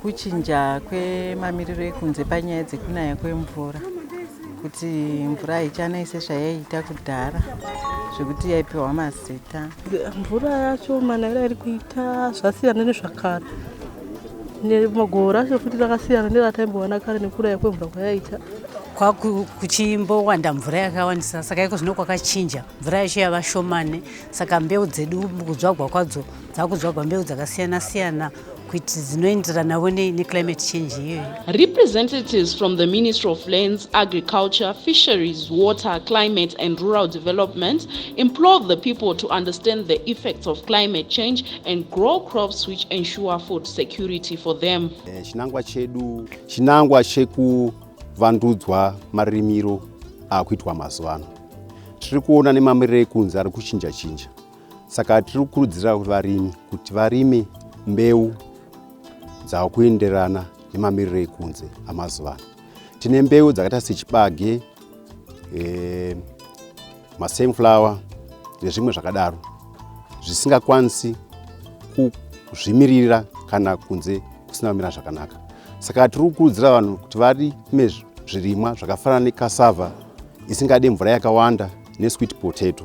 Kuchinja kwemamiriro ekunze panyaya dzekunaya kwemvura kuti mvura haichanai sezvayaiita kudhara zvekuti yaipiwa mazita mvura yacho manaviro ari kuita zvasiyana nezvakare magoro racho futi rakasiyana nerataimbowana kare nekuraya kwemvura kwayaita kwakuchimbowanda mvura yakawandisa saka iko zvino kwakachinja mvura yacho yava shomane saka mbeu dzedu kudzvagwa kwadzo dzakudzvagwa mbeu dzakasiyana siyana kuti dzinoenderanavo neclimate change iyoyo representatives from the ministry of lands agriculture fisheries water climate and rural development implore the people to understand the effects of climate change and grow crops which ensure food security for them eh, chinangwa chedu chinangwa chekuvandudzwa marimiro akuitwa mazuva ano tiri kuona nemamiriro ekunze ari kuchinja chinja saka tiri kukurudzira varimi kuti varime mbeu dzakuenderana nemamiriro ekunze amazuva ano tine mbeu dzakaita sechibage e, masunflower nezvimwe zvakadaro zvisingakwanisi kuzvimirira kana kunze kusina kumira zvakanaka saka tiri kukurudzira vanhu kuti varime zvirimwa zvakafanana nekasava isingade mvura yakawanda nesweet potato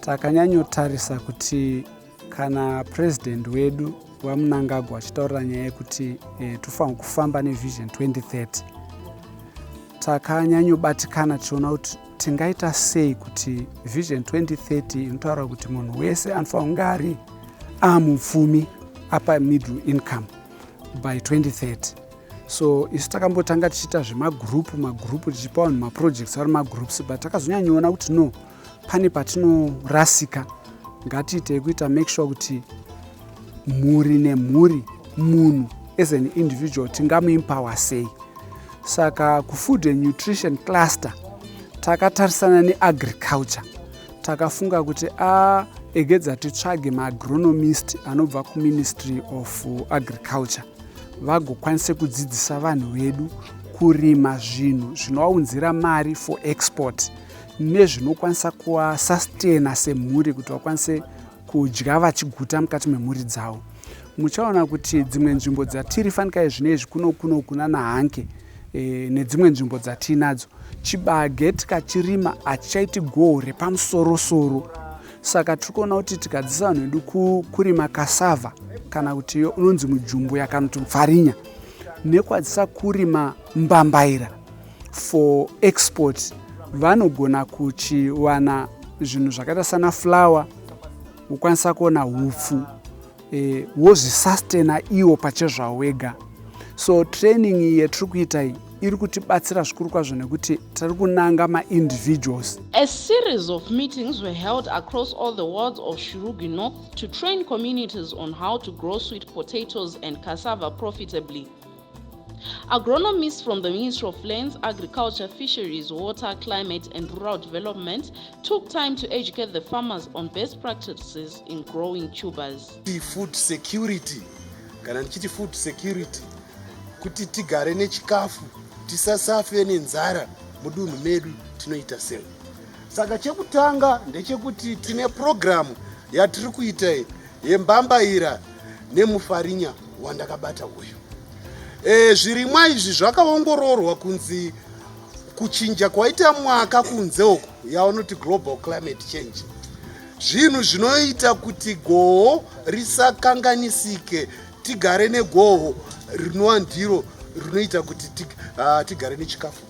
takanyanyotarisa kuti kana president wedu vamunangagwa achitaurira nyaya yekuti e, tofanira kufamba nevision 2030 takanyanyobatikana tichiona kuti tingaita sei kuti vision 2030 inotaura kuti munhu wese anofanira kunge ari amupfumi apa middle income by 2030 so isu takambotanga tichiita zvemagurupu magurupu tichipa vanhu maprojects ari magroups but takazonyanyoona kuti no pane patinorasika ngatiitei kuita make sure kuti mhuri nemhuri munhu as an individual tingamuimpawa sei saka kufood and nutrition cluster takatarisana neagriculture takafunga kuti a egedza titsvage maagronomist anobva kuministry of agriculture vagokwanise kudzidzisa vanhu vedu kurima zvinhu zvinovaunzira mari for export nezvinokwanisa kuvasastaina semhuri kuti vakwanise kudya vachiguta mukati memhuri dzavo muchaona kuti dzimwe nzvimbo dzatiri fanikai zvine izvi kuno kuno kuna nahanke e, nedzimwe nzvimbo dzatiinadzo chibage tikachirima hachichaiti goho repamusorosoro saka tiri kuona kuti tikadzisa vanhu vedu kurima kasava kana kuti iyo unonzi mujumbuya kana kuti pfarinya nekwadzisa kurima mbambaira for export vanogona kuchiwana zvinhu zvakaita sana flower wokwanisa kuona hupfu e, wozvisustena iwo pachezvawo wega so training iyi yatiri kuita iyi iri kutibatsira zvikuru kwazvo nekuti tiri kunanga maindividuals a series of meetings were held across all the worlds of shurugi north to train communities on how to grow sweet potatoes and cassava profitably Agronomists from the Ministry of Lands, Agriculture, Fisheries, Water, Climate and Rural Development took time to educate the farmers on best practices in growing tubers. Food security kana ndichiti food security kuti tigare nechikafu tisasafe nenzara mudunhu medu tinoita sei saka chekutanga ndechekuti tine purogiramu yatiri kuita iyi yembambaira nemufarinya wandakabata uyu e, zvirimwa izvi zvakaongororwa kunzi kuchinja kwaita mwaka kunze uku yaunoti global climate change zvinhu zvinoita kuti goho risakanganisike tigare negoho rinova ndiro rinoita kuti ah, tigare nechikafu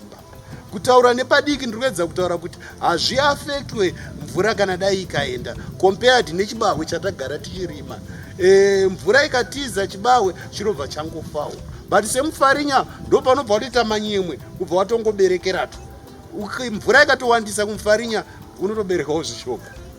kutaura nepadiki ndiri kuedza kutaura kuti hazviafektwe mvura kana dai ikaenda compared nechibahwe chatagara tichirima e, mvura ikatiza chibahwe chinobva changofawo but semufarinya ndo panobva watoita manyemwe kubva watongoberekeratu mvura ikatowandisa kumufarinya unotoberekawo zvishoko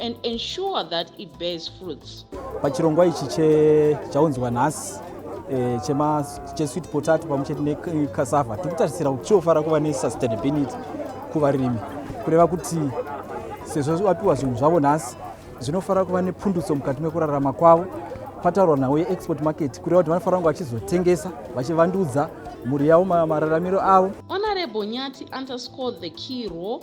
and ensure that it bears fruits. Pachirongwa ichi chaunzwa nhasi eh, chema chesweet potato pamwe chete necassava tiri kutarisira kuti chiofara kuva nesustainability kuvarimi kureva kuti sezvo vapiwa zvinhu zvavo nhasi zvinofanira kuva nepundutso mukati mekurarama kwavo pataurwa nhau yeexport market kureva kuti vanofanira kunge vachizotengesa vachivandudza mhuri yavo mararamiro avo Honorable Nyati underscored the key role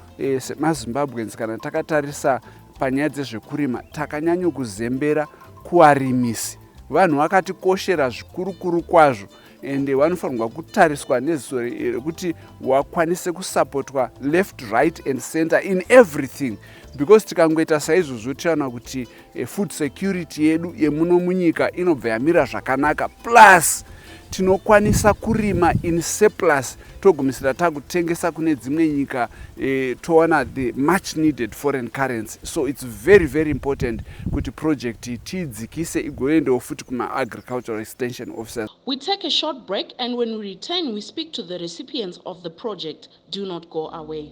E, semazimbabweans kana takatarisa panyaya dzezvekurima takanyanyo kuzembera kuvarimisi vanhu vakatikoshera zvikurukuru kwazvo ende vanofanirwa kutariswa neziso rekuti wakwanise kusapotwa left right and center in everything because tikangoita saizvozvo tichaona kuti E, food security yedu yemuno munyika inobva yamira zvakanaka plus tinokwanisa kurima in surplus togumisira takutengesa kune dzimwe nyika e, towana the much needed foreign currency so its very very important kuti project iyi tiidzikise igoendawo futi kumaagricultural extension officers we take a short break and when we return we speak to the recipients of the project do not go away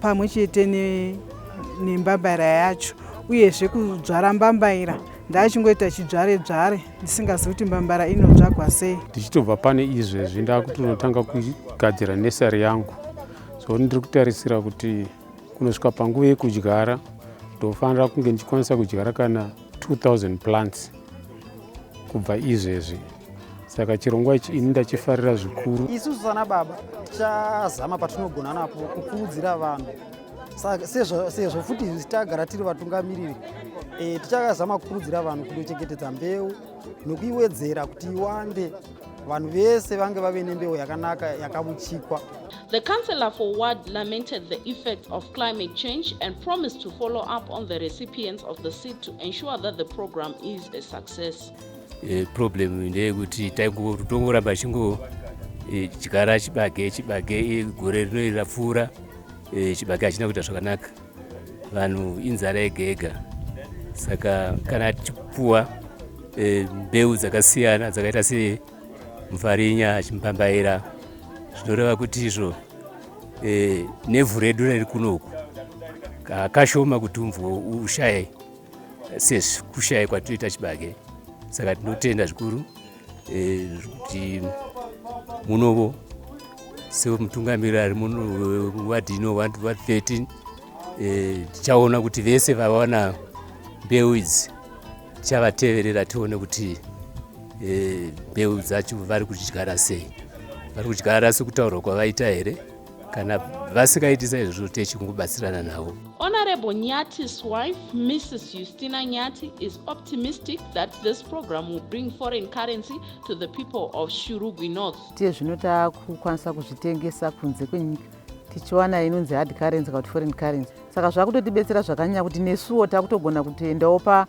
pamwe chete nembambaira yacho uyezve kudzvara mbambaira ndaichingoita chidzvare dzvare ndisingazivi kuti mbambara inodzvagwa sei ndichitobva pane izvezvi ndakutonotanga kugadzira nesari yangu so ndiri kutarisira kuti kunosvika panguva yekudyara ndofanira kunge ndichikwanisa kudyara kana 2000 plants kubva izvezvi saka chirongwa ichi ini ndachifarira zvikuru isusu sana baba tichazama patinogona napo kukurudzira vanhu sezvo futi tagara tiri vatungamiriri e, tichazama kukurudzira vanhu kundochengetedza mbeu nokuiwedzera kuti iwande vanhu vese vange vave nembeu yakanaka yakabuchikwa The councillor for ward lamented the effects of climate change and promised to follow up on the recipients of the seed to ensure that the program is a success. E, problem ndeyekuti taingotongoramba chingo e, chigara chibage chibage e, gore rino iri rapfuura e, chibage hachina kuita zvakanaka vanhu inzara yega yega saka kana tichipuwa e, mbeu dzakasiyana dzakaita semufarinya chimbambaira zvinoreva kuti izvo e, nevhu redu riri kunoku kakashoma kuti umvua ushaye sezvikushaya kwatinoita chibage saka tinotenda zvikuru eh, kuti munovo semutungamiriri ari muno wadhi ino wa 13 eh, tichaona kuti vese vavawana mbeu idzi tichavateverera tione kuti eh, mbeu dzacho vari kudyara sei vari kudyara sekutaurwa kwavaita here kana vasikaitisa izvozvo techingobatsirana navo honorable nyati's wife mrs justina nyati is optimistic that this program will bring foreign currency to the people of shurugwi north tiye zvino takukwanisa kuzvitengesa kunze kwenyika tichiwana inonzi hard currency kana kuti foreign currency saka zvakutotibetsera zvakanyanya kuti nesuwo takutogona kutoendawo pa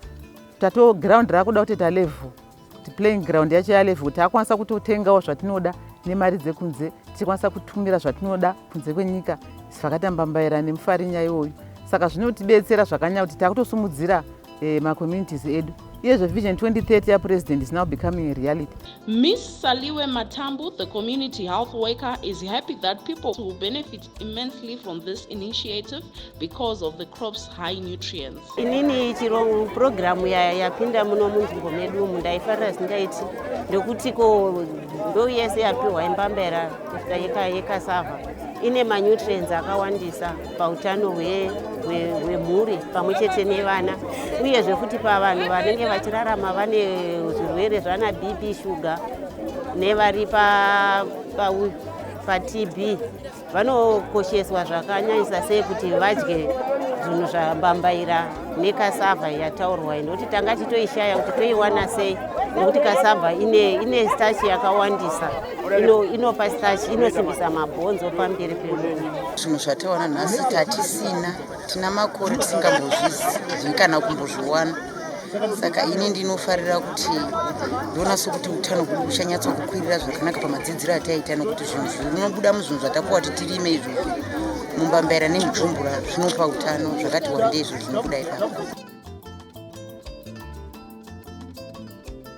tato ground rakuda kutoita level kuti playing ground yacho yalevel kuti akwanisa kutotengawo zvatinoda nemari dzekunze tichikwanisa kutumira zvatinoda kunze kwenyika zvakatambambaira nemufarinya iwoyu saka zvinotibetsera zvakanyanya kuti takutosimudzira eh, macommunities edu iyezve vision 2030 yapresident is now becoming a reality miss saliwe matambu the community health worker is happy that people will benefit immensely from this initiative because of the crop's high nutrients. Inini chirongo program yapinda muno munzvimbo medu umu ndaifarira zindaiti ndokuti ko mbeu yese yapiwa yembambera kusvika yekasava ine manutrients akawandisa pautano hwemhuri pamwe chete nevana uyezve futi pavanhu vanenge vachirarama vane zvirwere zvana bp shuga nevari pauyu patb vanokosheswa zvakanyanyisa sei kuti vadye zvinhu zvambambaira nekasava yataurwa iyi nokuti tanga titoishaya kuti toiwana sei nokuti kasava ine, ine stachi yakawandisa inopa ino stachi inosimbisa mabhonzo pamberi pemuviri zvinhu zvatawana nhasi tatisina Tina makore tisingambozvizivi kana kumbozviwana saka ini ndinofarira kuti ndoona sokuti utano hwedu huchanyatsa kukwirira zvakanaka pamadzidziro ataiita nokuti zvinhu zvinobuda muzvinhu zvatapuwa kuti tirime izvo mumbambaira nemujumbura zvinopa utano zvakati wandei izvo zvinobuda ipapo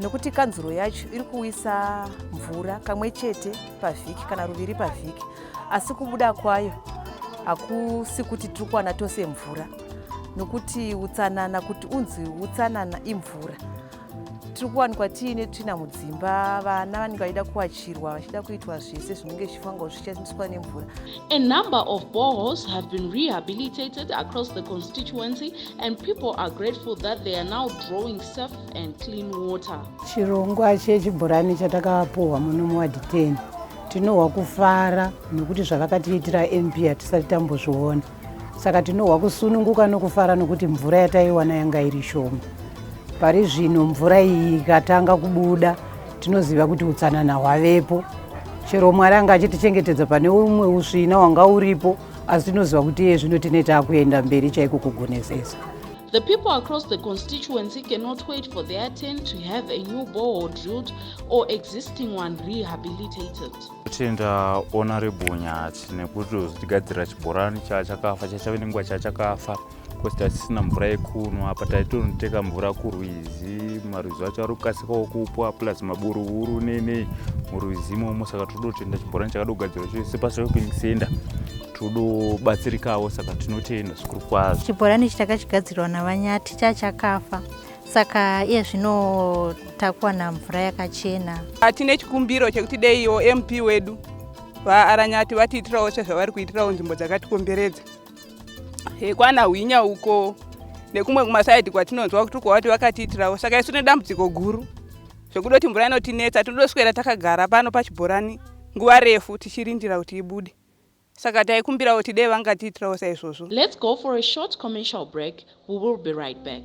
nokuti kanzuro yacho iri kuwisa mvura kamwe chete pavhiki kana ruviri pavhiki asi kubuda kwayo hakusi kuti tiri kuwana tose mvura nokuti utsanana kuti unzi utsanana imvura tiri kuwanikwa tiine tsvina mudzimba vana vanenge vachida kuwachirwa vachida kuitwa zvese zvinenge zvichifanirwa zvichashandiswa nemvura A number of boreholes have been rehabilitated across the constituency and people are grateful that they are now drawing safe and clean water. Chirongwa chechibhorani chatakapuhwa muno muward 10 tinohwa kufara nokuti zvavakatiitira MP hatisati tambozviona saka tinohwa kusununguka nokufara nokuti mvura yataiwana yanga iri shoma pari zvino mvura iyi ikatanga kubuda tinoziva kuti utsanana hwavepo chero mwari anga achitichengetedza pane umwe usvina wanga uripo asi tinoziva kuti iye zvino tine taakuenda mberi chaiko kugonesesa The people across the constituency cannot wait for their turn to have a new borehole drilled or existing one rehabilitated. Tenda honorable Nyati nekuti tigadzira chibhorani chachakafa chachave nenguva chachakafa. because tatisina mvura yekunwa apa taitonoteka mvura kurwizi marwizi acho ari kukasikawo kupwa plus maburuhuru nenei murwizi imomo saka tinodo kutenda chibhorani chakadogadzirwa chose pashopping center todobatsirikawo saka tinotenda zvikuru kwazvo chibhorani ichi takachigadzirwa navanyati chachakafa saka iye zvino takuwana mvura yakachena tine chikumbiro chekuti deiwo mp wedu vaaranyati vatiitirawo sezvavari kuitirawo nzvimbo dzakatikomberedza hekwana hwinya uko nekumwe kumasaidi kwatinonzwa kuti kwavati vakatiitirawo saka isu nedambudziko guru zvekuda kuti mvura inotinetsa tinodoswera takagara pano pachibhorani nguva refu tichirindira kuti ibude saka taikumbirawo kuti dei vangatiitirawo saizvozvo let's go for a short commercial break we will be right back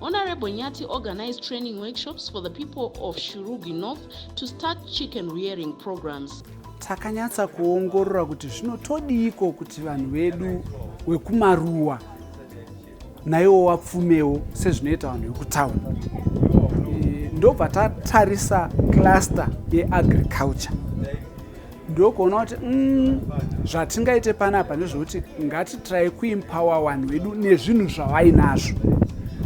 Honorable Nyati organized training workshops for the people of Shurugi North to start chicken rearing programs. Takanyatsa kuongorora kuti zvinotodiiko kuti vanhu vedu wekumaruwa naiwo wapfumewo sezvinoita vanhu vekutauni. Eh, ndobva tatarisa cluster yeagriculture. ndokuona kuti mm, zvatingaite panapa ndezvekuti ngatitrai kuimpawa vanhu vedu nezvinhu zvavainazvo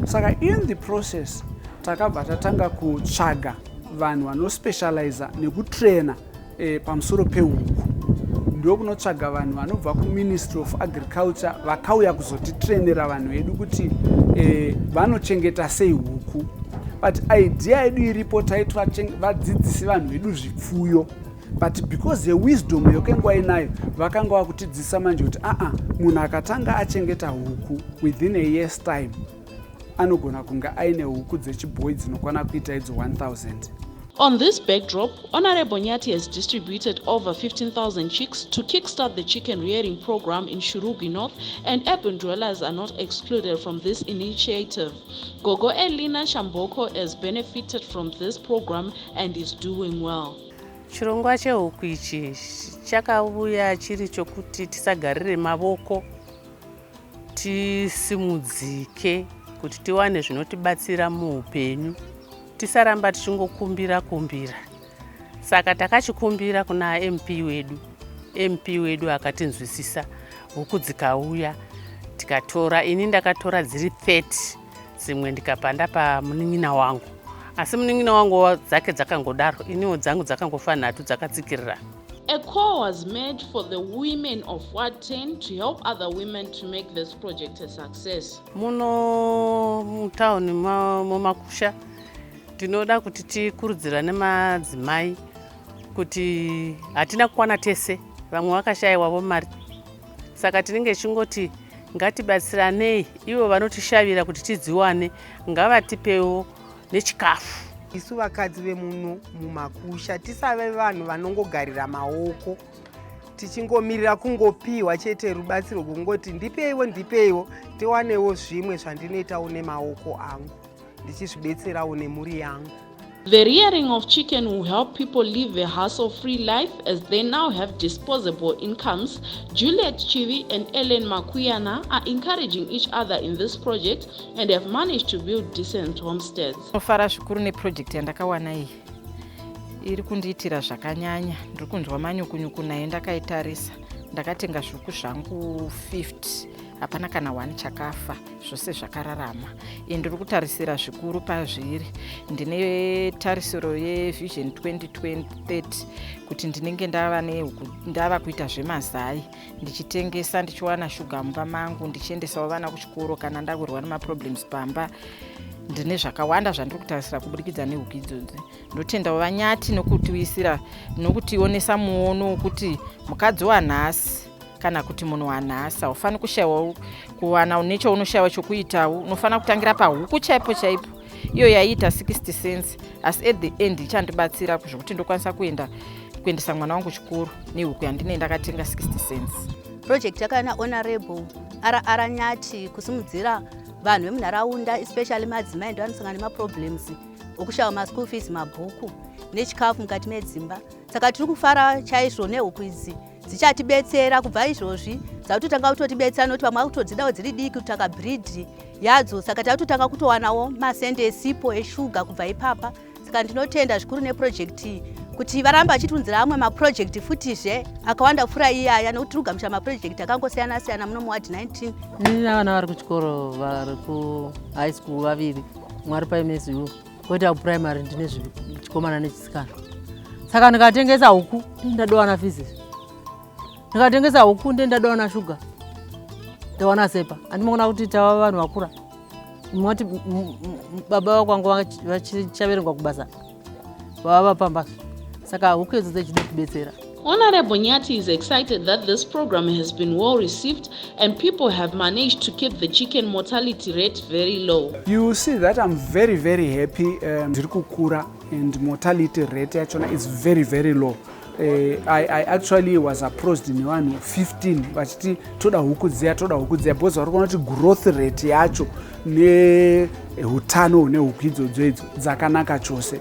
saka in the process takabva tatanga kutsvaga vanhu vanospecializa nekutraina e, pamusoro pehuku ndokunotsvaga vanhu vanobva kuministry of agriculture vakauya kuzotitrainera vanhu vedu kuti e, vanochengeta sei huku but idea yedu iripo taiti vadzidzisi vanhu vedu zvipfuyo but because yewisdom yokenge wainayo vakanga vakutidzisa manje kuti aa munhu akatanga achengeta huku within a years time anogona kunge aine huku dzechibhoyi dzinokwana kuita idzo 1000 On this backdrop, Honorable Nyati has distributed over 15,000 chicks to kickstart the chicken rearing program in Shurugi North, and urban dwellers are not excluded from this initiative. Gogo Elina Shamboko has benefited from this program and is doing well. Chirongwa chehuku ichi chakauya chiri chokuti tisagarire mavoko tisimudzike kuti tiwane zvinotibatsira muupenyu tisaramba tichingokumbira kumbira saka takachikumbira kuna mp wedu mp wedu akatinzwisisa huku dzikauya tikatora ini ndakatora dziri 30 dzimwe ndikapanda pamunin'ina wangu asi munin'ina wangu dzake dzakangodaro iniwo dzangu dzakangofa nhatu dzakatsikirira A call was made for the women of Ward 10 to help other women to make this project a success. Muno mutown mumakusha tinoda kuti tikurudzira nemadzimai kuti hatina kukwana tese vamwe vakashaiwavo mari saka tinenge chingoti ngatibatsiranei ivo vanotishavira kuti tidziwane ngavatipewo nechikafu isu vakadzi vemuno mumakusha tisave vanhu vanongogarira maoko tichingomirira kungopiwa chete rubatsiro kungoti ndipeiwo ndipeiwo tiwanewo zvimwe zvandinoitawo nemaoko angu ndichizvibetserawo nemhuri yangu The rearing of chicken will help people live a hassle-free life as they now have disposable incomes. Juliet Chivi and Ellen Makuyana are encouraging each other in this project and have managed to build decent homesteads. Nofara zvikuru neproject yandakawana iyi. Iri kundiitira zvakanyanya. Ndiri kunzwa manyukunyuku nayo ndakaitarisa. Ndakatenga zviuku zvangu 50. Hapana kana one chakafa. zvose zvakararama ini ndiri kutarisira zvikuru pazviri ndine tarisiro yevision 2030 kuti ndinenge ndava ndava kuita zvemazai ndichitengesa ndichiwana shuga mumba mangu ndichiendesawo vana kuchikoro kana ndakurwa nemaproblems pamba ndine zvakawanda zvandiri kutarisira kuburikidza nehuku idzodzi ndotendawo vanyati nokutiwisira nokutionesa muono wokuti mukadzi wanhasi kana kuti munhu wanhasa ufani kushaiwa kuwana une chaunoshaiwa chokuitawo unofanira kutangira pahuku chaipo chaipo iyo yaiita 60 cents asi at the end ichandibatsira zvekuti ndokwanisa kuenda kuendesa mwana wangu chikoro nehuku yandinei ndakatenga 60 cents project yakauya nahonorable rr nyati kusimudzira vanhu vemunharaunda especially madzimai ndivanosangana nemaproblems okushaiwa maschool fees mabhuku nechikafu mukati medzimba saka tiri kufara chaizvo nehuku idzi dzichatibetsera kubva izvozvi dzakutotanga kutotibetsera nokuti vamwe vakutodzidawo dziri diki kutaka bridhi yadzo saka takutotanga kutowanawo masende esipo eshuga kubva ipapa saka ndinotenda zvikuru neprojekti iyi kuti varambe vachitiunzira amwe maprojekti futizve akawanda kupfuura iyaya nokuti tiri kugamuchira maprojekti akangosiyana siyana muno muward 19 ndina vana vari kuchikoro vari kuhigh school vaviri mwari paimesiwo koita kuprimary ndine zvichikomana nechisikana saka ndikatengesa huku ndadowana fizis ndikatengesa huku nde ndadowana shuga ndawana sepa andimokona kuti tava vanhu vakura moti baba vakwanga vachichaverengwa kubasa vava vapambasa saka huku idzo dzechida kubetsera Honorable Nyati is excited that this program has been well received and people have managed to keep the chicken mortality rate very low. You see that I'm very very happy um, ndiri kukura and mortality rate yachona is very very low. Uh, I, I actually was approached nevanhu 15 vachiti toda huku dziya toda huku dziya because vari kuona kuti growth rate yacho neutano hune huku idzodzo idzo dzakanaka chose.